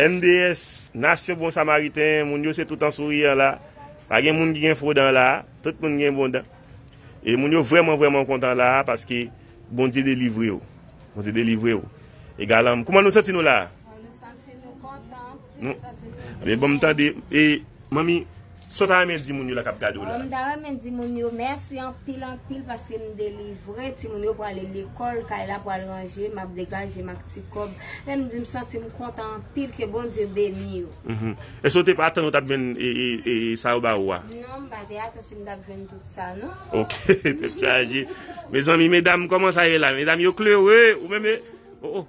MDS, nasyon bon samariten, moun yo se tout an souriyan la, pa gen moun ki gen fo dan la, tout moun gen bon dan. E moun yo vreman vreman kontan la, paske Bondye delivre yo. Bondye delivre yo. E galanm, kouman nou santi nou la? Nou santi nou kontan. Bon, m tande, e, manmi. Saw ta renmen di moun yo la kap gadew la? Mta renmen di moun yo mèsi anpil anpil paske m delivre, timoun yo pwale lekòl, kay la pwal ranje, map degajem ak ti kòb. Lèm di m santim kontan anpil ke Bondye beni yo. Eske ou te atann ou tap jwenn sa yo ba ou a? Non m pa te atann si m tap jwenn tout sa non. Ok tèt chaje. Mezanmi medam kòman sa ye la medam yo klere ou menm oh oh.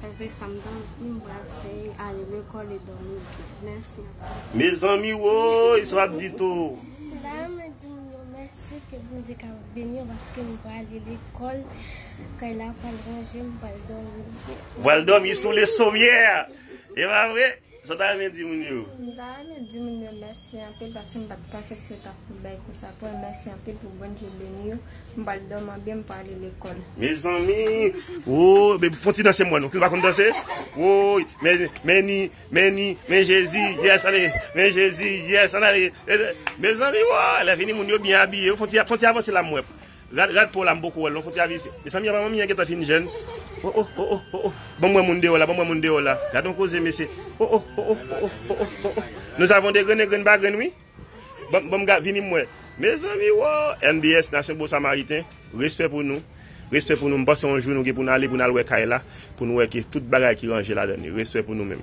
Pase sam ta anvi m pral fè ale lekòl e dòmi byen mèsi anpil. Mezanmi woyy sa wap di tou. Dayè mwen di moun yo mèsi ke Bondye ka beni yo paske m pral ale lekòl kay la pral ranje m pral dòmi byen. Pral dòmi sou le sommière e pa vre. Sa ta renmen di moun yo? M ta renmen di moun yo mèsi anpil paske m pat panse si yo tap fout bay kou sa pou mwen mèsi anpil pou Bndye beni yo m pral dòmi an byen m pral ale lekòl. Mezanmi ooh baby fon ti danse mwen ok ou pa konn danse woyy meni meni men jezi yes ale men jezi yes an ale mezanmi woo lè vini moun yo byen abiye fon ti avanse la m wè. Rad rad paw la m poko wèl non fouti avis Mezanmi apa manmi an gentan fin jèn oh oh oh oh oh oh banm wè moun deyò la banm wè moun deyò la gadon koze mesye oh oh oh oh oh oh oh oh oh oh nous avons des graines grenn pa grenn wi banm banm ga vini m wè mezanmi woo NBS nasyon bon samariten respè pou nou respè pou nou m panse yon jou nou gen pou n ale pou n al wè kay la pou n wè ke tout bagay ki ranje ladan li respè pou nou menm.